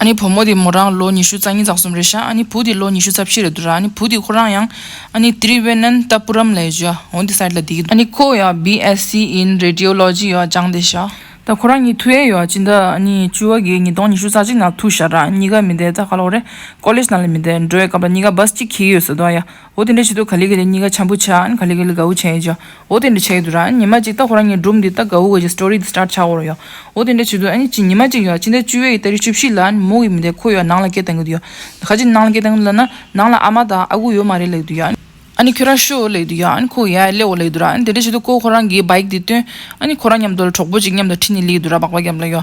ཨ་ནི་བུ་མོ་དེ་མོ་རང་ལོ་ཉི་ཤུ་རྩ་གཉིས་རྩ་གསུམ་རེད་ཤག་ཨ་ནི་བུ་དེ་ལོ་ཉི་ཤུ་རྩ་བཞི་རེད་དུ་ར་ཨ་ནི་བུ་དེ་ཁོ་རང་ཡང་ཨ་ནི་ཏི་རི་བྷེ་ནན་ཏཱ་པུ་རམ་ལའི་ཇོ་ཧོན་ཏི་སཱི་ལ་དེ་གི་ཨ་ནི་ཁོ་ཡང་བྷི་ཨེ་སི་ཨིན་རེ་ཏི་ཨོ་ལོ་ཇི་ཡོག་སྦྱང་དེ་ཤག། ད་ཁོ་རང་གཉིས་ཐུ་ཨེ་ཡོག་སྤྱི་ཟླ་ཨ་ནི་བཅུ་བ་གའི་ཉིས་སྟོང་ཉི་ཤུ་རྩ་གཅིག་ནང་ཐུ་ཤག་ར་གཉིས་ཀ་མི་དེ་རྩ་ཁ་ལོག་རེད་ཀོ་ལེ་ཇ་ནང་ལ་མི་དེ་འགྲོ་བའི་སྐབས་ར་གཉིས་ཀ་སྦ་སི་ཅི་ཁི་ཡོད་ཟེར་དོ་ཨ་ཡ། འོ་དེ་འདྲ་བྱེད་དུ་ག་ལི་ག་ལི་གཉིས་ཀ་འཆམ་པོ་ཆགས་ཨན་ག་ལི་ག་ལི་གའུ་བྱས་ཀྱི་འོ་དེ་འདྲ་བྱས་དུ་ར་ཉི་མ་གཅིག་ད་ཁོ་རང་གཉིས་སྒྲུབ་འདི་ད་གའུ་ག་གི story འདི start ཆགས་འོ་རོ་ཡ་འོ་དེ་འདྲ་བྱེད་དུ་ཨ་ཉི་ཉི་མ་གཅིག་ཡ་ཕྱི་ཟླ་བཅུ་བའི་ད་རེས་བཅུ་བཞི་ལ་ཨན་མོ་གི་མི་དེ་ཁོ་ཡ་ནང་ལ་སྐད་བཏང་གི་འདུག་ཡ་ཁ་ཅིག་ནང་ལ་སྐད་བཏང་གི་འདུག་ལ་ན་ནང་ལ་ཨ་མ་དང་ཨ་ཁུ་ཡོད་མ་རེད་ལེགས་འདུག་ཡ་ཨ་ནི་ཁྱོད་རང་ཤི་འོ་ལེགས་འདུག་ཡ་ཨན་ཁོ་ཡ་སླེ་འོ་ལེགས་འདུག་ར་ཨན་དེ་འདྲ་བྱེད་དུ་ཁོ་ཁོ་རང་གི bike འདི་བཏོན་ཨ་ནི་ཁོ་རང་མཉམ་དུ་ལ་གྲོགས་པོ་གཅིག་མཉམ་དུ་ཁྲིད་ནི་ལེགས་འདུག་ར་སྦག་སྦག་བརྒྱབ་ལ་ཡོ།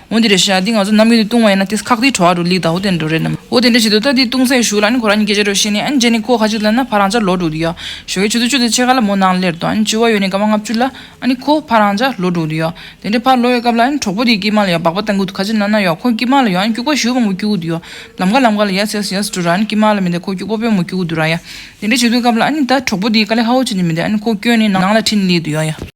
འོ་འདི་རེད་ཤག་འདི་ང་ཚོ་ནམ་རྒྱུན་དུ་བཏུང་བ་ཡིན་ན་དེ་ཁག་དེའི་བྲོ་བ་རུ་ལིག་དང་འོ་དེ་འདྲ་རེད་ནམ། འོ་དེ་འདྲ་བྱེད་དུ་ལྟ་དེ་བཏུང་ཚད་ཞུ་ལ་ཨ་ནི་ཁོ་རང་གཉིས་ཀྱི་སྐད་ཆ་རོ་ཤེས་ནས་ཨ་ནི་རྗེས་ནི་ཁོ་ཁ་ཅིག་ལབ་ན་ཕ་རང་ཅག་ལོ་དྲུག་དུ་ཡོད། ཞོ་གས་ཆུ་ཚོད་བཅུ་དེ་ཕྱེད་ཀ་ལ་མོ་ནང་སླེར་དུ་ཨ་ནི་བཅུ་བ་ཡོད་ནས་སྐར་མ་ལྔ་བཅུ་ལ་ཨ་ནི་ཁོ་ཕ་རང་ཅག་ལོ་དྲུག་དུ་ཡོད། དེ་འདྲའི་ཕར་ལོག་ཡོད་སྐབས་ལ་ཨ་ནི་གྲོགས་པོ་དེའི་སྐེད་མ་ལ་ཡོད་སྦག་པ་ལྟ་འགུལ་དུ་ཁ་ཅིག་ན་ན་ཡོད་ཁོ་སྐེད་མ་ལ་ཡོད་ཨ་ནི་སྐྱུག་པ་ཞུ་བ་མོ་སྐྱུག་གུ་དུ་ཡོད། ལམ་ཁ་ལམ་ཁ་ལ་ཡ་སེ་ཡ་སེ་འགྲོ་ར་ཨ་ནི་སྐེད་མ་ལ་མི་འདེད་ཁོ་སྐྱུག་པ་པོའི་མོ་སྐྱུག་གུ་དུ་ར་ཡ། དེ་འདྲ་བྱེད་དུས་སྐབས་ལ་ཨ་ནི་ད་གྲོགས་པོ་དེའི་ཀ་ལས་ཧ་བོ་ཆེ་དེ་མི་འདེད་ཨ་ནི་ཁོ་སྐྱོན་ནས་ནང་ལ་འཁྲིད་ནས་ལིག་དུ་ཡོད་ཡ།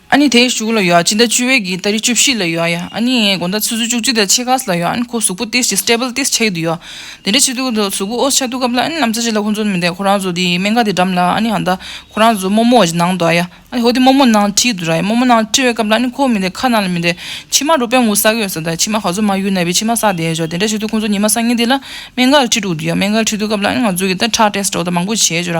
ཨ་ནི་དེའི་གཞུག་ལ་ཡོ་ཅི་ད་ཅུ་བའི་གིས་ད་རི་བཅུ་བཞི་ལ་ཡོ་ཡ་ཨ་ནི་ངའི་དགོན་ད་ཆུ་ཚོད་བཅུ་གཅིག་ད་ཆེ་ཁག་ལ་ཡོ་ཨ་ནི་ཁོ་གཟུགས་པོ་ཏིས་ཅི Stable ཏིས་ཆ་ཡི་དུ་ཡོ་དེ་འདྲའི་ཆེ་དུ་གཟུགས་པོ་ཨོ་ཆ་དུ་སྐབས་ལ་ཨ་ནི་ལམ་ཚ་ཅི་ལ་ཁོ་ཚོ་མི་འདེད་ཁོ་རང་ཚོ་དེའི་སྨན་ཁ་དེ་འགྲམ་ལ་ཨ་ནི་ཧ་ད་ཁོ་རང་ཚོ་རྨོ་མོ་ཨོ་ཅི་ནང་དུ་ཨ་ཡ་ཨ་ནི་ཧོ་དེ་རྨོ་མོ་ནང་ཁྲི་ཡི་དུ་ར་ཡ་རྨོ་མོ་ནང་ཁྲི་བའི་སྐབས་ལ་ཨ་ནི་ཁོ་མི་འདེད་ཁ་ནང་ལ་མི་འདེད་ཕྱི་མ་རུ་དཔོན་ངུ་ཟ་གི་ཡོ་ས་ད་ཕྱི་མ་ག་ཚོད་མ་ཡུལ་ན་བའི་ཕྱི་མ་ཟ་དེ་ཞོ་དེ་འདྲའི་ཆེ་དུ་ཁོ་ཚོ་ཉི་མ་སང་ཉིན་དེ་ལ་སྨན་ཁ་ཁྲི་དྲུག་དུ་ཡོ་སྨན་ཁ་ཁྲི་དུ་སྐབས་ལ་ཨ་ནི་ང་ཚོ་གི་ད་ཁྲག Test ཨོ་ད་མང་པོ་བྱས་ཞོ་ར་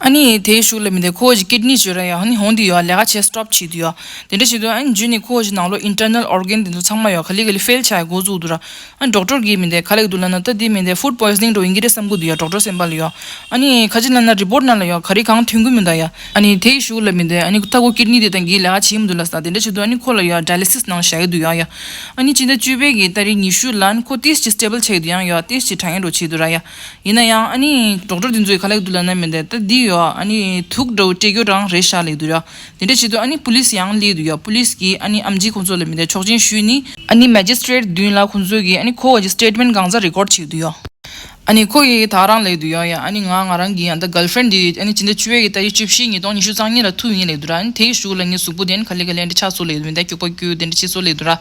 ཨ་ནི་དེའི་ཤུགས་ལས་མི་འདས་ཁོ་བོ་ཀྱི་སྐེད་གཉིས་ཀྱི་ར་ཡང་ནི་ཧོང་དུ་ཡོད་ལས་ཀ་བྱེད་སྤྲོ་བྱེད་དུ་ཡོད། དེ་འདྲ་བྱེད་དུས་ཨ་ནི་རྒྱུན་ནས་ཁོ་བོ་ཀྱི་ནང་ལོགས Internal Organ དེ་ཚོ་ཚང་མ་ཡོད་ག་ལི་ག་ལི་ཧྥེལ་བྱ་ཡི་འགོ་བཙུགས་འདུག་ར་ཨ་ནི་སྒྲོག་སྤྲོར་གྱིས་མི་འདས་ག་ལེགས་འདུག་ལ་ན་ད་དེ་མི་འདས Food Poisoning འགྲོ་ཡིན་གྱི་རེད་བསམ་གི་འདུག་ཡ་སྒྲོག་སྤྲོ་སེམས་པ་ལ་ཡོད་ཨ་ནི་ཁ་ཅིག་ལ་ན Report ནང་ལ་ཡོད་ག་རེ་གང་ཐོན་གི་མི་འདུག་ཡ་ཨ་ནི་དེའི་ཤུགས་ལས་མི་འདས་ཨ་ནི་ད་ཁོ་སྐེད་གཉིས་དེ་དང་གིས་ལས་ཀ་བྱེད་མི་འདུག་ལ་ས་དེ་འདྲ་བྱེད་དུས་ཨ་ནི་ཁོ་ལ་ཡོད Dialysis ནང་བྱ་གི་འདུག་ཡ་ཡ་ཨ་ནི་སྤྱི་ཟླ་བཅུ་པའི་གི་ད་རེས་ཉི་ཤུ་ལ་ཨ་ནི་ཁོ Test གྱི Stable བྱ་གི་འདུག་ཡང་ཡོད Test གྱི་དྲ་ངན་འགྲོ་བྱེད་དུ་ར་ཡ། ཡིན་ན་ཡང་ཨ་ནི་གྲོགས་གྲོགས་དེ་ཚོའི་ཁ་ལེགས་དུ་ལ་ན་མི་འདེད་ད་འདི་ཡོད་ཨ་ནི་དུག་འདྲ་བོ་སྤྲད་རྒྱུ་རང་རེད་ཤག་ལེགས་དུ་ཡོད་དེ་འདྲ་བྱེད་དུས་ཨ་ནི་པུ་ལིས་ཡང་ལེགས་དུ་ཡོད་པུ་ལིས་ཀྱིས་ཨ་ནི་ཨམ་ཇི་ཁོང་ཚོ་ལ་མི་འདེད་ཆོག་མཆན་ཞུས་ནི། ཨ་ནི་མེ་ཇི་སི་ཏྲེད་མདུན་ལ་ཁོང་ཚོས་ཀྱིས་ཨ་ནི་ཁོ་བ་ཀྱི Statement གང་ཟག Record བྱེད་དུ་ཡོད། ཨ་ནི་ཁོ་ཡིས་ད་རང་ལེགས་དུ་ཡོད་ཡ་ཨ་ནི་ང་ང་རང་གི་ཡང་ད Girl Friend དེ་ཨ་ནི་ཇི་འདྲ་ཆུ་བེད་ཀྱི་ད་ཡི་བཅུ་བཞི་ཉིས་སྟོང་ཉི་ཤུ་རྩང་གཉིས་ལ་ཐུག་ཡིན་ལེགས་དུ་ར་ཨ་ནི་དེ་ཡི་གཞུག་ལ་ངའི་གཟུགས་པོ་དེ་ཨ་ནི་ཁ་ལེགས་ཀྱི་ལན་འདྲ་ཆགས་སོ་ལེགས་དུ་མི་འདེད་སྐྱུག་པ་སྐྱུག་དེ་འདྲ་བྱེད་སོ་ལེགས་དུ་ར།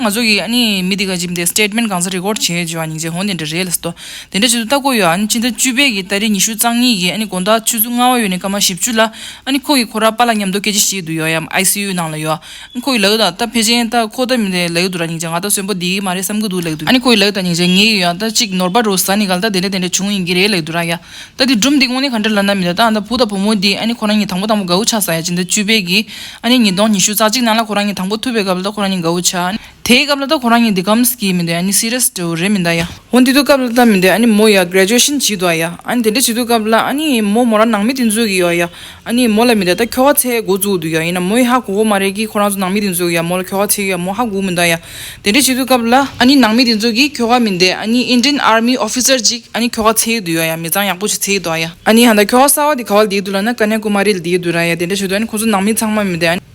ང་ཚོ་གིས་མི་དེ་ག་ཅིག་དེ Statement གང་ས Record བྱས་ཡོད་ཅེས་བྱ་བ་ནི་འདི་འདྲ་རེད་ལ་སོ། དེ་འདྲ་བྱེད་དུ་ལྟ་གོ་ཡོད་ཕྱི་ཟླ་བཅུ་པའི་ཟླ་རེའི་ཉི་ཤུ་རྩ་གཉིས་ཀྱི་དགོང་དག་ཆུ་ཚོད་ལྔ་བ་ཡོལ་ནས་སྐར་མ་བཞི་བཅུ་ལ། ཁོ་གི་ཁོ་ར་པ་ལ་ཉམས་རྟོགས་སྐད་ཆ་བཤད་དུ་ཡོད་ཡམ ICU ནང་ལ་ཡོད། ཁོ་གི་ལག་ད་ད་ཕལ་ཆེན་ད་ཁོ་ད་མི་དེ་ལག་ཡོད་དུ་ར་ཉིང་ཅ་ང་ད་གསོན་པོ་དེ་གི་མ་རེད་བསམ་གི་འདུག་ལག་ཏུ་ཁོ་གི་ལག་ད་ཉིང་ཅ་ངེས་ཀྱི་ཡོད་ད་གཅིག་ནོར་བ་རུ་ཟ་ནི་ག་ལ་ད་དེ་འདྲ་དེ་འདྲ་བྱུང་ཡིན་གྱི་རེད་ལག་ཏུ་ར་ཡ། ད་དེ་སྒྲུབ་འདི་དངོས་གནས་ག་འདྲ་ལ་ན་མི་ད་ད་བུ་དང་བུ་མོ་དེ་ཨ་ནི་ཁོ་རང་གཉིས་དང་པོ་དང་པོ་གའུ་ཆ་ཟ་ཡ་ཇི་ད་བཅུ་པའི་གི་ཨ་ནི་ཉིས་སྟོང་ཉི་ཤུ་རྩ་གཅིག་ནང་ལ་ཁོ་རང་གཉིས་དང་པོ་ཐུབ་པའི་སྐབས་ལ་ད་ཁོ་རང་གཉིས་གའུ་ཆ་དེའི་སྐབས་ལ་ད་ཁོ་རང་གཉིས་འདི་ཁམས་ཀྱི་མི་འདུག་ཨ་ནི Serious འདྲ་བོ་རེད་མི་འདག་ཡ། འོ་འདི་དུས་སྐབས་ལ་ད་མི་འདུག་ཨ་ནི་མོ་ཡ Graduation བྱེད་འདུག་ཨ་ཡ། ཨ་ནི་དེ་འདྲ་བྱེད་དུས་སྐབས་ལ་ཨ་ནི་མོ་མོ་རང་ནང་མི་དེ་ཚོའི་གི་ཡོ་ཨ་ཡ། ཨ་ནི་མོ་ལ་མི་ད་ད་ཁྱོ་ག་ཚས་མགོ་བཙུགས་འདུག་ཡ་ཡིན་ན་མོའི་ཧ་གོ་གོ་མ་རེད་ཀི་ཁོ་རང་ཚོ་ནང་མི་དེ་ཚོས་ཡ་མོ་ལ་ཁྱོ་ག་བྱེད་ཡ་མོ་ཧ་གོ་མི་འདུག་ཡ། དེ་འདྲ་བྱེད་དུས་སྐབས་ལ་ཨ་ནི་ནང་མི་དེ་ཚོས་ཀི་ཁྱོ་ག་མི་འདེད་ཨ་ནི Indian Army Officer གཅིག་ཨ་ནི་ཁྱོ་ག་ཚས་ཡོད་འདུག་ཡ་ཡ་མི་ཚང་ཡག་པོ་ཞིག་ཚས་ཡོད་འདུག་ཡ། ཨ་ནི་ཧ་ད་ཁྱོ་ག་གསར་བ་དེ་ག་བ་ལ་འདེད་འདུག་ལ་ན་ཀ་ནེ་ཀུ་མ་རི་ལ་འདེད་ཡོད་འདུག་ར་ཡ་དེ་འདྲ་བྱེད་དུས་ཨ་ནི་ཁོ་ཚོ་ནང་མི་ཚང་མ་མི་འདེད་ཨ་ནི།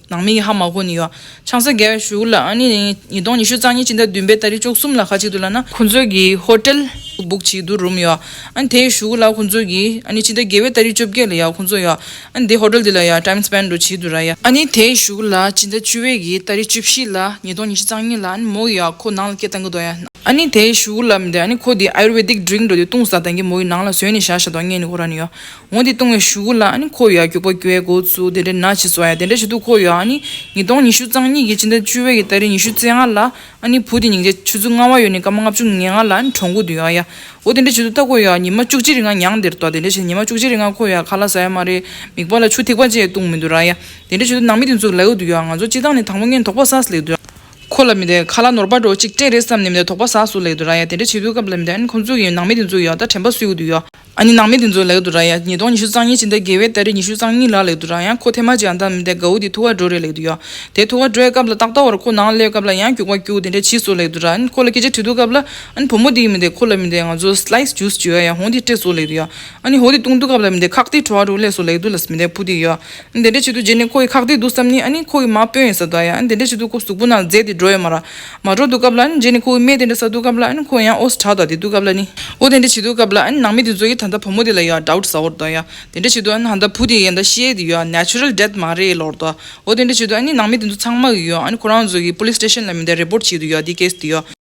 ནང་མི་ཡི་ཧ་མ་གོ་ནི་ཡོད། ཆང་ས་རྒྱལ་བའི་བཞུགས་ལ་ཨ་ནི། ཉིས་སྟོང་ཉི་ཤུ་རྩ་གཉིས་སྤྱི་ཟླ་བདུན་པའི་ད་རེས་ཅོག་གསུམ་ལ་ཁ་གཅིག་ཏུ་ལ་ན། ཁོ་ཚོའི་གི་ཧོ་ཏེལ། སྦུག་བྱིས་དུ་རུམ་ཡོད། ཨ་ནི་དེའི་བཞུགས་ལ་ཁོ་ཚོའི་གི། ཨ་ནི་སྤྱི་ཟླ་བརྒྱད་པའི་ད་རེས་བཅོ་བརྒྱད་ལ་ཡ་ཁོ་ཚོ་ཡོད། ཨ་ནི་དེའི་ཧོ་ཏེལ་དེ་ལ་ཡ་ཏཱིམ་སི་བན་རུ་བྱིས་དུ་ར་ཡ། ཨ་ནི་དེའི་བཞུགས་ལ་སྤྱི་ཟླ་བཅུ་བའི་གི་ད་རེས་བཅུ་བཞི་ལ་ཉིས་སྟོང་ཉི་ཤུ་རྩ་གཉིས་ལ་ཨ་ནི་མོ་ཡ་ཁོ་ནང་ལ་སྐད་བཏང་གི་དོ་ཡ། ཨ་ནི་དེའི་བཞུགས་ལ་མི་དེ་ཨ་ནི་ཁོ་དེའི Ayurvedic Drink འགྲོ་དེ་བཏུང་ཟ་དང་གི་མོ་ཡི་ནང་ལ་ཟོས་ནི་བཞག་བཞག་དོ་ཨ་ངས་ནི་ཨོ་ར་ནི་ཡོད། ངོ་དེ་བཏུང་བའི་ཞུ་གུ་ལ་ཁོ་ཡོ་ཡ་རྒྱུག་པ་རྒྱུ་བའི་འགོ་བཙུགས་དེ་འདྲའི་ན་བྱེད་བཟོ་ཡ་དེ་འདྲ་བྱེད་དུས་ཁོ་ཡོ་ཡ་ཉིས་སྟོང་ཉི་ཤུ་རྩང་གཉིས་ཀྱི་སྤྱི་ཟླ་བཅུ་བའི་ཟླ་རེ་ཉི་ཤུ་རྩེ་ལྔ་ལ་བུ་དེ་ཉིང་ཅའི་ཆུ་ཚོད་ལྔ་བ་ཡོལ་ནས་སྐར་མ་ལྔ་བཅུ་ངེ་ལྔ་ལ་གྲོང་ཁུག་ཏུ་ཡོ་ཡ་འོ་དེ་འདྲ་བྱེད་དུ་ལྟ་ཁོ་ཡོ་ཡ་ཉི་མ་བཅུ་གཅིག་རེ་ང་ཉང་འདིར་འདོགས་དེ་འདྲ་བྱེད་དུ་ཉི་མ་བཅུ་གཅིག་རེ་ང་ཁོ་ཡོ་ཡ་ཁ་ལ་ཟ་ཡ་མ་རེད་མིག་པ་ལ་ཆུ་ཐིགས་པ་བཅས་བཏུང་མི་འདུག་ར་ཡ་དེ་འདྲ་བྱེད་དུ་ནང་མི་དེ་ཚོ་ལེའུ་དུ་ཡོ་ཡ་ང་ཚོ་སྤྱི་བཏང་ནས་དང་པོ་ངན་དོག་པ་སཱས་ལེགས་འདུག་ཁོ་ལ་མི་དེ་ཁ་ལ་ནོར་བ་འགྲོ་གཅིག་སྤྲད་རེད་བསམ་ནས་མི་དེ་དོག་པ་སཱས་སུ་ལེགས་འདུག་ར་ཡ་དེ་འདྲ་བྱེད་དུས་སྐབས་ལ་མི་དེ་ཁོ་ཚོ་ཡི་ནང་མི་དེ་ཚོ་ཡོ་ད་དྲན་པ་སུའི་དབུ་དུ་ཡོ། ཨ་ནི་ནང་མི་དེ་ཚོའི་ལག་ཏུ་རག་ཡ། ཉིས་སྟོང་ཉི་ཤུ་རྩ་གཉིས་ཕྱི་ཟླ་བརྒྱད་བའི་སྟ་རེ་ཉི་ཤུ་རྩ་གཉིས་ལ་ལེགས་དུ་རག་ཡང་ཁོ་ཐེ་མ་ཅི་ཡང་བདམས་མི་འདེད་གའུ་དེ་ཐུགས་ཁ་འགྲོ་རེ་ལེགས་དུ་ཡ། དེ་ཐུགས་ཁ་འགྲོའི་སྐབས་ལ་ཏག་ཏག་བར་ཁོ་ནང་སླེབས་སྐབས་ལ་ཡང་རྒྱུག་པ་རྒྱུག་དེ་འདྲ་གྱིས་སུ་ལེགས་དུ་རག་ཨན་ཁོ་ལ་སྐད་ཆ་དྲིས་འདུག་སྐབས་ལ་ཨན་བུ་མོ་དེ་ཡིན་མི་འདེད་ཁོ་ལ་མི་འདེད་ང་ཚོ Slice Juice བྱོས་ཡ་ཡང་ཧོང་དེ་སྤྲད་སུ་ལེགས་དུ་ཡ། ཨ་ནི་ཧོ་དེ་བཏུང་འདུག་སྐབས་ལ་མི་འདེད་ཁག་དེ་བྲོ་བ་འདུག་སླེ་སུ་ལེགས་དུ་ལ་མི་འདེད་བུ་དེ་ཡོད། འདི་འདྲའི་བྱེད་དུ་རྗེས་ནས་ཁོ་ཡི་ཁག་ཐེག་འདུག་བསམ་ནས་ཨ་ཁོ་ཡི་མ་དཔོན་ཡིན་ས་དང་ཡང་འདི་འདྲའི་བྱེད་དུ་ཁོ་གཟུགས་པོ་ནང་རྫས་དེ་འགྲོ་ཡོད་མ་ར་མ་འགྲོ་འདུག་སྐབས་ལ་རྗེས་ནས་ཁོ་ཡི་སྨད་དེ་འདྲ་ས་འདུག་སྐབས་ལ་ཁོ་ཡང་ཨོ་ས་དྲག་དང་དེ་འདུག་སྐབས་ལ་ནི་ཨོ་དེ་འདྲའི་བྱེད་དུ་སྐབས་ལ་ནང་མི་དེ་ཚོ་ཡི་ད་ལྟ་བུ་མོ་དེ་ལ་ཡོད་ཨོ་ས་འོར་དང་ཡང་འདི་འདྲའི་བྱེད་དུ་ཨ་ཧ་ད་བུ་དེ་ཡི་ད་ཤེས་དེ་ཡོད Natural death མ་རེད་ལོར་དང་ཨོ་དེ་འདྲའི་བྱེད་དུ་ནང་མི་དེ་ཚོ་ཚང་མ་ཡི་ཡོད་ཨ་ཁོ་རང་ཚོ་ཡི Police station ལ་མི་འདའི Report བྱེད་དུ་ཡོད་དེ Case དེ་ཡོད།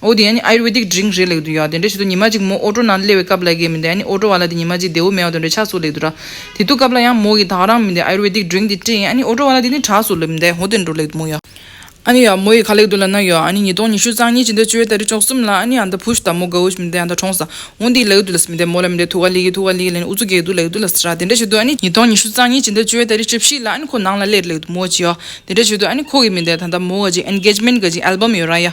འོ་དེ་ཡང་ནི Ayurvedic Drink རེད་ལེགས་འདུན་ཡོད་དེ་འདྲ་བྱེད་དུ་ཉི་མ་གཅིག་མོ་ཨོ་ཀྲོ་ནང་དུ་སླེ་བའི་སྐབས་ལ་རྒས་མི་འདུག་ཡང་ནི་ཨོ་ཀྲོ་བ་ལ་དེ་ཉི་མ་གཅིག་བདེ་བོ་མེད་བ་དོན་འདྲ་ཆགས་སུ་ལེགས་འདུག་ར། དེ་དུ་སྐབས་ལ་ཡང་མོ་གིས་དག་རང་མི་འདུག Ayurvedic Drink དེ་བཀྲིས་ཡང་ནི་ཨོ་ཀྲོ་བ་ལ་དེ་ནི་དྲགས་སུ་ལེབ་འདེད་ཧོ་དེ་འདྲོ་ལེགས་འདུག་མོ་ཡ། ཨ་ནི་ཡ། མོ་ཡི་ཁ་ལེགས་འདུག་ལ་ན་ཡོ་ཨ་ནི་ཉིས་སྟོང་ཉི་ཤུ་གཙང་གཉིས་ཅི་འདྲ་བཅོས་ད་རི་ཅོག་གསུམ་ལ་ཨ་ནི་ཨ་ད་བུཞ་ད་མོ་དགའ་བོ་ཞིག་མི་འདུག་ཡང་ད་གྲོངས་ས་འོང་དེ་ལེགས་འདུག་ལ་སི་མི་འདེད་མོ་ལ་མི་འདེད་ཐུགས་ཀ་ལི་གི་ཐུགས་ཀ་ལི་གི་ལ་ནི་ཨུ་ཚུགས་རྒྱག་འདུག་ལེགས་འདུག་ལ་སི་ར་དེ་འདྲ་བྱེད་དུ་ཨ་ནི་ཉིས་སྟོང་ཉི་ཤུ་གཙང་གཉིས་ཅི་འདྲ་བཅོས་ད་རི་བཅོ་བཞི་ལ་ཨ་ནི་ཁོ་ནང་ལ་སླེ་རེ་ལེགས་འདུག་མོ་ཅི་ཡོ་དེ་འདྲ་བྱེད་དུ་ཨ་ནི་ཁོ་གིས་མི་འདེད་ད་ད་མོ་ག་ཅིག Engagement ག་ཅིག Album ཡོད་ར་ཡ།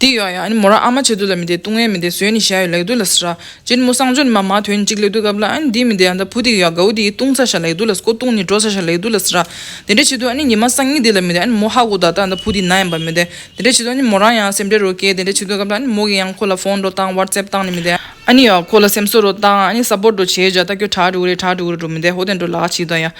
འདི་ཡོང་ཡང་མོ་རང་ཨ་མ་བྱེད་དུ་ལ་མི་བདེ་ལྟུང་བས་མི་བདེ་ཟོས་ནི་ཞག་ཡོད་ལེགས་འདུག་ལ་ཟེར། སྤྱིར་མོ་གསང་སྦྱོར་ནི་མ་མ་དོན་གཅིག་ལེགས་འདུག་སྐབས་ལ་འདི་མི་བདེ་ཡང་ད་བུ་འདི་ཡོད་ག་འུ་འདི་ལྟུང་ཚར་ཞག་ལེགས་འདུག་ལ་སྐོ་ལྟུང་ནི་འགྲོ་ཚར་ཞག་ལེགས་འདུག་ལ་ཟེར། དེ་འདྲ་བྱེད་དུ་ཉི་མ་སང་ཉིན་འདི་ལ་མི་བདེ་མོ་ཧ་གོ་ད་ལྟ་བུ་འདི་ན་ཡང་བ་མི་བདེ། དེ་འདྲ་བྱེད་དུ་མོ་རང་ཡང་སེམས་ཁྲལ་རོ་སྐྱེས་དེ་འདྲ་བྱེད་དུས་སྐབས་ལ་མོ་གིས་ཡང་ཁོ་ལ་ཕོན་འགྲོ་བཏང་བར་ཙེབ་བཏང་ནི་མི་བདེ། ཁོ་ལ་སེམས་གསོ་རོ་བཏང་ས་པོར་འགྲོ་བྱས་བྱས་ད་ཁྱོད་གྲྭ་འགྲོ་གི་རེད་གྲྭ་འགྲོ་གི་རེད་འགྲོ་མི་བདེ་ཧོ་དེ་འགྲོ་ལགས་ཅི་ལྟ་ཡ།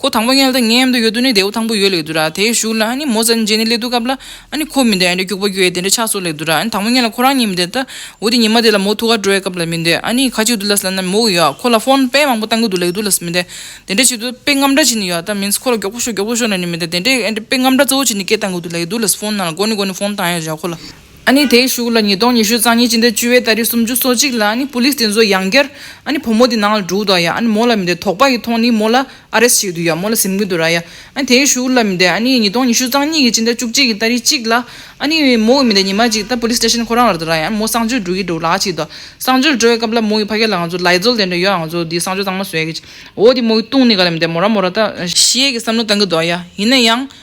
ཁོ་དང་པོ་མངལ་དང་མངལ་དུ་ཡོད་དུས་ནི་རྡེའུ་དང་པོ་ཡོད་ལེགས་འདུག་ར་དེའི་གཞུག་ལ་ནི་མོ་བཙལ་ནས་འཇལ་ནི་ལེགས་འདུག་སྐབས་ལ་ནི་ཁོ་མི་འདོད་ཨ་ནི་རྒྱུག་པ་རྒྱུ་ཡས་དེ་འདྲ་ཆགས་སོགས་ལེགས་འདུག་ར་ཨ་ནི་དང་པོ་མངལ་ལ་ཁོ་རང་ཉིད་མི་འདོད་ད་འོ་དེ་ཉི་མ་དེ་ལ་མོ་ཐུགས་ཁར་འགྲོ་བའི་སྐབས་ལ་མི་འདོད་ཨ་ནི་ཁ་ཅིག་ཏུ་ལ་ས་ན་མོ་ཡོད་ཨ་ཁོ་ལ་ཧྥོན་དཔེ་མང་པོ་བཏང་གི་འདུག་ལེགས་འདུག་ལ་ས་མི་འདོད་དེ་འདྲ་བྱེད་དུ་དཔེ་རྔམ་འདྲ་ཅིག་ནི་ཡོད་ད་མིན་ཁོ་ལ་མགྱོགས་པོ་ཤོག་མགྱོགས་པོ་ཤོག་ལ་ནི་མི་འདོད་དེ་འདྲའི་ཨ་འདྲའི་དཔེ་རྔམ་འདྲ་གཙོ་བོ་ཅིག་ནི་སྐད་བཏང་གི་འདུག་ལེགས་འདུག་ལ་ཧྥོན་ནང་ལ་སྒོ་ནི་སྒོ་ནི་ཧྥོན་བཏང་ཡོད་རེད་ཨ་ཁོ་ལ། ཨ་ནི་དེའི་གཞུག་ལ་ཉིས་སྟོང་ཉི་ཤུ་རྩ་གཉིས་སྤྱི་ཟླ་བཅུ་བའི་ད་རེས་སུམ་ཅུ་སོ་གཅིག་ལ་ཨ་ནི Police དེ་ཚོ་ཡང་བསྐྱར་ཨ་ནི་བུ་མོ་དེ་ནང་ལ་འདྲུག་དོ་ཡ་ཨ་ནི་མོ་ལ་མི་དེ་དོགས་པ་ཡི་ཐོག་ནི་མོ་ལ Arrest བྱེད་དུ་ཡ་མོ་ལ་གཟིམ་གི་འདུག་ར་ཡ་ཨ་ནི་དེའི་གཞུག་ལ་མི་དེ་ཨ་ནི་ཉིས་སྟོང་ཉི་ཤུ་རྩ་གཉིས་ཀྱི་སྤྱི་ཟླ་བཅུ་གཅིག་གི་ད་རེས་གཅིག་ལ་ཨ་ནི་མོ་གི་མི་དེ་ཉི་མ་གཅིག་ད Police Station ཁོ་རང་ལ་དུ་ར་ཡ་ཨ་ནི་མོ་གསང་སྤྱོད་འགྲོ་གི་འདུག་ལགས་ཅིག་དོ་གསང་སྤྱོད་འགྲོ་བའི་སྐབས་ལ་མོ་གི་ཕ་སྐད་ལ་ང་ཚོ་ལའི་རྫོལ་དེ་འདྲ་ཡོད་ཨ་ང་ཚོ་དེའི་གསང་སྤྱོད་གཙང་མ་བཟོས་ཀྱི་འོ་དེ་མོ་གི་ལྟུང་ནི་ག་ལ་མི་དེ་མོ་ར་མོ་ར་ད། ཤེས་ཀྱི་བསམ་བློ་བཏང་གི་འདུག་ཡ་ཡིན་ན་ཡང།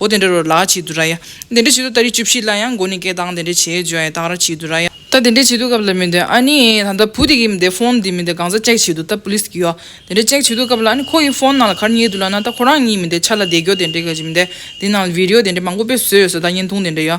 འོ་དེ་འདྲ་རོ་ལ་བྱེད་དུ་ར་ཡ། དེ་འདྲ་བྱེད་དུ་ད་རེས་བཅུ་བཞི་ལ་ཡང་མགོ་ནས་སྐད་གདངས་དེ་འདྲ་བྱེད་བརྗོད་ཡ་དག་ར་བྱེད་དུ་ར་ཡ། ད་དེ་འདྲ་བྱེད་དུ་སྐབས་ལ་མི་འདོད་ཨ་ནི། ད་ལྟ་བུ་དེ་གི་མི་དེ་ཕོན་དེ་མི་དེ་གང་ཟག་ཅེག་བྱེད་དུ་ད་པུ་ལིས་གི་ཡོ། དེ་འདྲ་ཅེག་བྱེད་དུ་སྐབས་ལ་ཨ་ནི་ཁོ་གི་ཕོན་ནང་ལ་གར་རྙེད་དུ་ལ་ན་ད་ཁོ་རང་གཉིས་མི་དེ་ཆ་ལ་བསྡད་རྒྱོ་དེ་འདྲ་ག་བྱེད་མི་དེ་དེ་ནང་ལ་བིར་ཡོ་དེ་འདྲ་མང་པོ་དཔེ་བཟོས་ཡོ་ས་ད་བརྙན་ཐུང་དེ་འདྲ་ཡོ།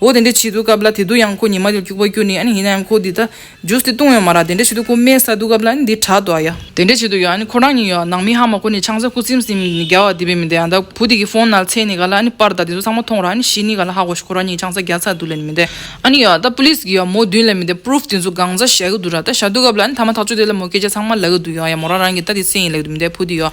འོ་དེ་འདྲའི་བྱེད་དུ་སྐབས་ལ་དེ་དུ་ཡང་ཁོ་ཉི་མ་ལས་སྐྱུག་པ་རྒྱུ་ནི་ཨ་ནི་ཡིན་ན་ཡང་ཁོ་འདི་ད་རྒྱུ་སྟེ་ལྟུང་བའི་མ་ར་དེ་འདྲའི་བྱེད་དུ་ཁོ་སྨྲས་ས་དུ་སྐབས་ལ་ཨ་ནི་འདི་དྲག་ཏུ་ཨ་ཡ། དེ་འདྲའི་བྱེད་དུ་ཡོད་ཨ་ནི་ཁོ་རང་ཉིད་ཡོད་ནང་མི་ཧ་མ་ཁོ་ནི་ཆང་ས་ཁུ་སིམ་སིམ་ནི་རྒྱ་བ་འདི་བས་མི་འདས་ཨ་ད་བུ་དེ་གི་ཧྥོན་ནལ་ཚེ་ནི་ག་ལ་ཨ་ནི་པར་ད་དེ་ཚོ་ཚང་མ་མཐོང་ར་ཨ་ནི་ཤི་ནི་ག་ལ་ཧ་གོ་ཤི་ཁོ་རང་ཉིད་ཆང་ས་རྒྱ་ཚ་དུ་ལས་ནི་མི་འདས་ཨ་ནི་ཡོད་ད police གི་ཡོད་མོ་བདུན་ལས་མི་འདས proof དེ་ཚོ་སྒང་རྩ་བཞག་གི་འདུག་ར་ད་བཞག་དུ་སྐབས་ལ་ཨ་ནི་ཐ་མ་ཐག་ཆོད་དེ་ལ་མོ་སྐད་ཆ་ཚང་མ་ལ་གི་འདུག་ཡོད་ཨ་ཡ་མོ་རང་རང་གི་ད་དེ་སེ་ཡིན་ལ་གི་འདུག་མི་འདས་བུ་དེ་ཡོད།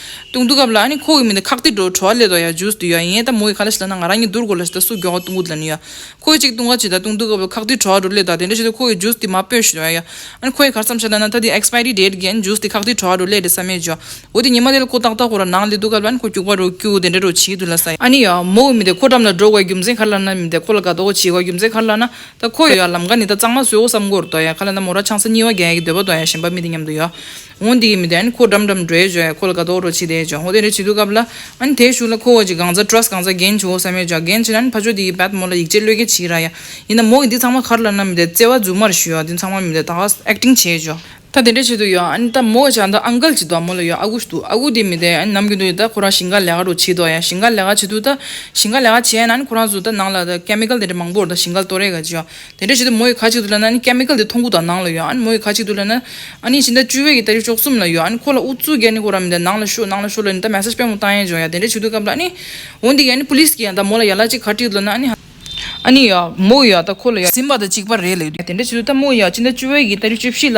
ཏུང་ཏུང་སྐབས་ལ་ནི་ཁོ་གི་མིང་དེ་ཁག་ཏི་འགྲོ་བྲོ་བ་ལས་དོ་ཡ་ཇུས་སུ་འདུས་ཡ་ཡིན་ཡ་ད་མོ་ཡི་ཁ་ལ་ཤི་ལ་ན་ང་རང་གཉིས་འདུར་དགོ་ལ་ཤི་ད་སུ་གྱོ་ང་ཏུང་ཀུ་ལ་ནི་ཡ་ཁོ་ཡི་ཅིག་ཏུང་ཀ་ཅིག་ད་ཏུང་ཏུང་སྐབས་ལ་ཁག་ཏི་བྲོ་བ་འགྲོ་ལས་དོ་དེ་འདྲ་ཤི་ད་ཁོ་གི་ཇུས་སུ་དེ་མ་པོས་ཤི་དོ་ཡ་ཡ་ཨ་ཁོ་ཡི་ཁར་ཙམ་ཤི་ད་ན་ད་དེ Expiry Date གི་ཨ་ཇུས་དེ་ཁག་ཏི་བྲོ་བ་འགྲོ་ལས་དེ་ས་མེད་ཇོ་འོ་དེ་ཉི་མ་དེ་ལ་ཁོ་ཏག་ཏག་ཁོ་ར་ནང་ལས་འདུག་སྐབས་ལ་ནི་ཁོ་སྐྱུག་པ་རུ་སྐྱུག་དེ་འདྲ་རུ་བྱིས་དུས་ལ་ས་ཨ་ནི་ཡ་མོ་གི་མི་དེ་ཁོ་འགྲམ་ལ་འགྲོ་དགོས་ཡ་རྒྱུ་མཚན་ཁ་ལ་ན་མི་དེ་ཁོ་ལ་དགའ་དོ་གོ་བྱིས་གོ་ཡ་རྒྱུ་མཚན་ཁ་ལ་ན་ད་ཁོ་ཡི་ལམ་ཀ་ནི་ད་གཙང་མ་བཟོས་གོ་བསམ་གོ་རུ་དོ་ཡ་ཁ་ལ་ན་མོ་ར་ཆང་ས་སྙི་བ་རྒྱ་ཡ་གི་འདོད་པ་དོ་ཡ་ཞེན་པ་མི་དེ་མཉམ་དུ་ཡོ། ཧོང་དེའི་མི་དེ་ཁོ་འགྲམ་འགྲམ་འགྲོའི་བྱོས་ཁོ་ལ་དགའ་དོག་རོ་བྱེད་དེ་བྱོས་ཧོ་དེ་རེ་བྱེད་དུས་སྐབས་ལ་དེ་བཞུགས་ལ་ཁོ་བོ་ཀྱི་གང་ཟ Trust གང་ཟ་རྒན་བྱོས་བསམ་ཡོད་ཅག་རྒན་བྱེད་ལ་ཕ་ཆོས་དེ་ཡི་བད་མོ་ལ་ཡིག་ཆས་བློས་འགེལ་བྱེད་ཀྱི་ར་ཡ་ཡིན་ད་མོ་ཡི་འདི་ཚང་མ་གར་ལ་ན་མི་དེ་བརྩེ་བ་རྫུན་མར་ཞུས་ཨ་འདི་ཚང་མ་མི་དེ་ད་ག Acting བྱེད་བྱོས་ད་དེ་འདྲ་བྱེད་དུ་ཡོད་ད་མོ་ཅག་འདི Uncle གྱི་བད་མོ་ལ་ཡོད་ཨ་ཁུ་འདུག་ཨ་ཁུ་དེ་མི་དེ་ནམ་གྱི་འདུག་ཡོད་ད་ཁོ་རང་ཞིང་ཁ་ལས་ཀ་རོ་བྱེད་དོག་ཡ་ཞིང་ཁ་ལས་ཀ་བྱེད་དུས་ད་ཞིང་ཁ་ལས་ཀ་བྱས་ན་ཁོ་རང་ཚོ་ད་ནང་ལ་ད Chemical དེ་འདྲ་མང་པོ་རོ་ད་ཞིང་ཁ་ལ་ལྟོ་རེ་ག་བྱོས་དེ་འདྲ་བྱས་ཏེ་མོ་ཡི་ཁ་གཅིག་ཏུ་བསླད་ན Chemical དེ་མཐོང་ཁུག་དང་ནང་ལ་ཡོད་ཨང་མོ་ཡི་ཁ་གཅིག་ཏུ་བསླད་ན་ནི་ཕྱི་ཟླ་བཅུ་བའི་གི་ད་རེས་ཅོག་གསུམ་ལ་ཡོད་ཨང་ཁོ་ལ་ཨུ་ཚུགས་རྒྱག་ནི་ཁོ་རང་མི་ད་ནང་ལ་ཤོད་ནང་ལ་ཤོད་ལ་ནི་ད Message སྤེལ་མོ་བཏང་ཡས་བྱུང་ཡ་དེ་འདྲ་བྱེད་དུས་སྐབས་ལ་ནི་འོ་འདི་གི Police གི་ཡང་ད་མོ་ལ་ཡ་ལ་གཅིག་ཁ་གཅིག་ཏུ་བསླད་ན་ཨ་ནི་ཡ་མོ་ཡ་ད་ཁོ་ལ་ཡ་ཟིན་པ་ད་གཅིག་པ་རེད་ལ་ཡོད་དེ་འདྲ་བྱེད་དུས་ད་མོ་ཡ་ཕྱི་ཟླ་བཅུ་བའི་གི་ད་རེས་བཅུ་བཞི་ལ་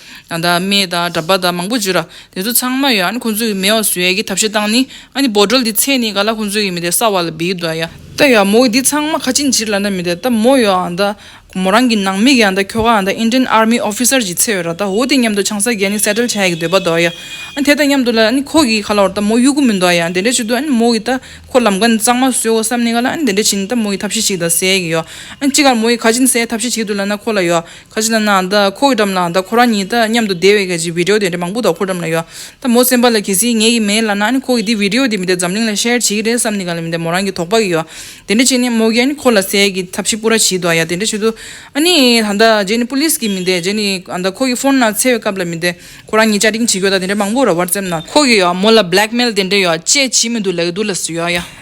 ཡང་དག་མེད་དང་གྲྭ་པ་དང་མང་པོ་བརྗོད་ར་དེ་ཚོ་ཚང་མ་ཡོད་ཨ་ནི་ཁོང་ཚོས་ཀྱི་མེད་བ་བཟོས་ཡ་གི་ཐབས་ཤེས་སྟངས་ནི་ཨ་ནི་འབོ་དྲོལ་དེ་ཚད་ནི་ག་ལ་ཁོང་ཚོས་ཀྱི་མི་དེ་ས་བ་ལ་བིས་དོ་ཡ་ད་ཡ་མོ་གི་དེ་ཚང་མ་ཁ་ཅིག་འཇིར་ལ་ན་མི་དེ་ད་མོ་ཡོད་ཨ་ད་མོ་རང་གི་ནང་མི་གི་ཨ་ད་ཁྱོ་ག་ཨ་ད Indian army officer གྱི་ཚད་ཡོད་ར་ད་འོ་དེ་མཉམ་དུ་ཆང་ས་གི་ཨ་ནི settle བྱ་ཡ་གི་འདོད་པ་དོ་ཡ་ཨ་དེ་དང་མཉམ་དུ་ལ་ཨ་ནི་ཁོ་གི་ག་ལ་བར་ད་མོ་གཡུག་གུ་མི་འདོ་ཡ་དེ་འདྲས་བྱེད་དུ་ཨ་ནི་མོ་གི་ད་ཁོ་ལམ་ཀ་ནི་གཙང་མ་བཟོས་འོ་བསམ་ནི་ག་ལ་ཨ་ནི་དེ་འདྲས་བྱེད་ནི་ད་མོ་གི་ཐབས་ཤེས་ཅིག་ད་བཟས་ཡ་གི་ཡོ་ཨ་ནི་ཅི་ག་ལ་མོ་གི་ཁ་ཅིག་ནི་བཟས་ཐབས་ཤེས་བྱེད་དུ་ལ་ན་ཁོ་ལ་ཡོ་ཁ་ཅིག་ལ་ན་ད་ཁོ་གི་འགྲམ་ལ་ད་ཁོ་རང་ཉིད་དང་མཉམ་དུ་བསྡད་པའི་ཁ་ཅིག་བི་དྲེའོ་དེ་འདྲ་མང་པོ་ད་ཁོ་འགྲམ་ལ་ཡོད་ད་མོ་སེམས་པ་ལ་གལ་སྲིད་ངེད་ཀྱི་མེད་ལ་ན་ཁོ་གི་དེ་བི་དྲེའོ་དེ་མི་དེ་འཛམ་གླིང་ལ་ཤེར་བྱེད་ཀྱི་རེད་བསམ་ནི་ག་ལ་མི་དེ་མོ་རང་གི་དོགས་པ་གི་ཡོད་དེ་འདྲ་བྱས་ནི་མོ་གི་ཨ་ནི་ཁོ་ལ་ཟས་ཀྱི་ཐབས་ཤིག་པོ་ར་བྱིས་དོ་ཡ་དེ་འདྲ་བྱེད་དུ་ཨ་ནི་ད་ད་རྗེས་ནི Police གི་མི་དེ་རྗེས་ནི་ཨ་ད་ཁོ་གི Phone ན་འཚེ་བའི་སྐབས་ལ་མི་དེ་ཁོ་རང་ཉིད་བཅའ་དྲིང་བྱེད་དགོས་ད་དེ་འདྲ་མང་པོ་ར WhatsApp ན་ཁོ་གི་ཡོད་མོ་ལ Blackmail དེ་འདྲ་ཡོད་ཅེས་བྱིས་མི་འདུག་ལག་འདུག་ལ་སུ་ཡོད་ཡ།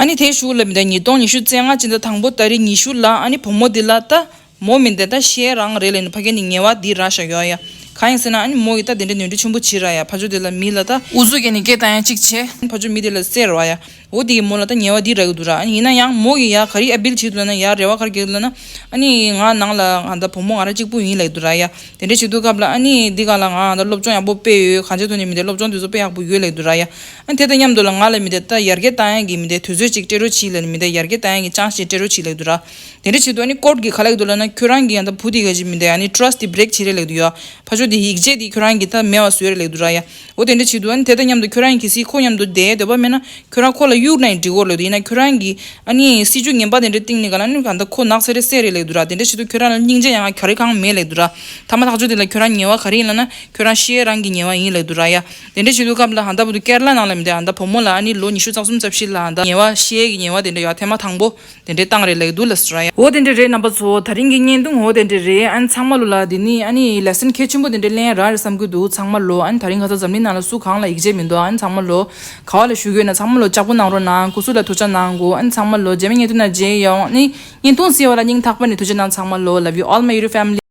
ཨཱ་ནི་དེའི་གཞུག་ལ་མི་ད་ཉིས་སྟོང་ཉི་ཤུ་རྩེ་ལྔ་ཅི་འདྲ་དང་པོ་ད་རེས་ཉི་ཤུ་ལ་ཨཱ་ནི་བུ་མོ་འདི་ལ་ད་མོ་མི་འདེད་ད་ཤའི་རང་རེད་ལས་ནི་ཕ་ག་ནི་ངེ་བ་འདི་ར་ཤ་ཡོ་ཡ་གང་ཡིན་ཟེར་ན་ཨཱ་ནི་མོ་ཡི་ད་དེ་འདྲ་ནུས་འབྲུ་ཆེན་པོ་བྱི་ར་ཡ་ཕ་ཆོ་དེ་ལ་མི་ལ་ད། འུ་ཟུག་ག་ནི་སྐད་ད་ཡ་ཅིག་བྱེད། ཕ་ཆོ་མི་དེ་ལ་ཟེར་ར་ཡ། འོ་དེ་གི་མོ་ལ་ད་ངེ་བ་འདི་ར་གི་འདུག་ར་ཨཱ་ནི་ཡིན་ན་ཡང་མོ་གི་ཡ་ག་རི་ཨ་བིལ་བྱི་དུ་ལ་ན་ཡ་རེ་བ་གར་གེག་དུ་ལ་ན་ཨཱ་ནི་ང་ནང་ལ་ང་ད་བུ་མོ་ང་ར་གཅིག་པུ་ཡིན་ལ་གི་འདུག་ར་ཡ་དེ་འདྲ་བྱི་དུ་སྐབས་ལ་ཨཱ་ནི་འདི་ག་ལ་ང་ད་སློབ་སྦྱོང་ཡག་པོ་སྤེལ་ཡོད་གང་བྱེད་དུ་ནི་མི་ད་སློབ་སྦྱོང་དེ་ཚོ་སྤེལ་ཡག་པོ་ཡོད་ལ་གི་འདུག་ར་ཡ། དེ་དང་མཉམ་དུ་ལ་ང་ལ་མི་དེ་ད་ཡར་གའི་རྟ་ཡན་གྱི་མི་དེ་དུས་ཚོད་ཅིག་སྤྲེལ་རོ་བྱིས་ལ་ནི་མི་དེ་ཡར་གའི་རྟ་ཡན་གྱི་ཅང་ཞེས་སྤྲེལ་རོ་བྱིས་ལེགས་འདུག་ར། དེ་འདྲ་བྱེད་དུ་ཨ་ནི་ཀོར་གྱི་ཁ་ལེགས་འདུག་ལ་ན་ཁྱོད་རང་གི་ཡང་ད་བུ་དེ་ག་ཅིག་མི་དེ་ཨ་ནི Trust དེ Break བྱེད་རེ་ལེགས་འདུག་ཡ། ཕ་ཆོ་དེ་ཡིག་ཆད་དེ་ཁྱོད་རང་གི་ད་མེ་བ་བཟོས་རེ་ལེགས་འདུག་ར་ཡ། འོ་དེ་འདྲ་བྱེད་དུ་ཨ་ནི་དེ་དང་མཉམ་དུ་ཁྱོད་རང་གིས་སི་ཁོ་མཉམ་དུ་དེའི་འདོད་པ་མེད་ན་ཁྱོད་རང་ཁོ་ལ་གཡུག་ན་ཡང་འགྲིག་གོ་ལེགས་འདུག་ཡིན་ན་ཁྱོད་རང་གིས་ཨ་ནི་སྲིད་ཇུས་ངན་པ་དེ་འདྲ་བཏིང་ནས་ག་ལ་ནི་ག་ད་ཁོ་ནག་ཚལ་རེ་བསད་རེ་ལེགས་འདུག་ར་དེ་འདྲ་བྱེད་དུ་ཁྱོད་རང་ལ་སྙིང་རྗེ་ཡང་ག་རེ་གང་མེད་ལེགས་འདུག་ར། ཐ་མ་ཐག་ཆོ་དེ་ལ་ཁྱོད་རང་ཉེ་བ་ག་རེ་ཡིན་ལ་ན་ཁྱོད་རང་ཤེས་རང་གི་ཉེ་བ་ཡིན་ལེགས་འདུག་ར་ཡ། དེ་འདྲ་བྱེད་དུས་སྐབས་ལ་ཧ་ད་བུ་དུ་སྐལ་ལ་ནང་ལ་མི་དེ་ཧ་ད་བུ་མོ་ལ་ཨ་ནི་ལོ་ཉི་ཤུ་རྩ་གསུམ་རྩ་བཞི་ལ་ཧ་ད་ཉེ་བ་ཤེས་ཀྱི་ཉེ་བ་དེ་འདྲ་ཡོད་ཐེངས་མ་ཐང་པོ་དེ་འདྲའི་སྟངས་རེད་ལེགས་འདུག་ལ་སི་ར་ཡ། འོ་དེ་འདྲ་རེད་རྣམ་པ་ཚོ་ད་རིང་གི་བརྙན་ཐུང་འོ་དེ་འདྲ་རེད་ཨ་ནི་ཚང་མ་ལོ་ལ་དེ་ནི་ཨ་ནི Lesson གལ་ཆེན་པོ་དེ་འདྲ་གླེང་ཡ་རང་རེད་བསམ་གྱི་འདུག་ཚང་མ་ལོ་ཨ་ནི་ད་རིང་ཁ་ཚ་འཛམ་གླིང་ནང་ལ་སུ་གང་ལ་ཡིག་ཆད་མི་འདུག་ཨ་ནི་ཚང་མ་ལོ་ག་བ་ལ་ཞུ་གི་ཡོད་ན་ཚང་མ་ལོ་ལྕགས་པོ་གནང་རོགས་གནང་གུ་སུ་ལ་ཐུགས་ཆ་གནང་དགོས་ཨ་ནི་ཚང་མ་ལོ་རྗེས་མའི་བརྙན་ཐུང་ནང་རྗེས་ཡོང་ཨ་ནི་བརྙན་ཐུང་གསལ་བ་ལ་སྙིང་ཐག་པ་ནས་ཐུགས་ཆ་གནང་ཚང་མ་ལོ Love you all my YouTube family།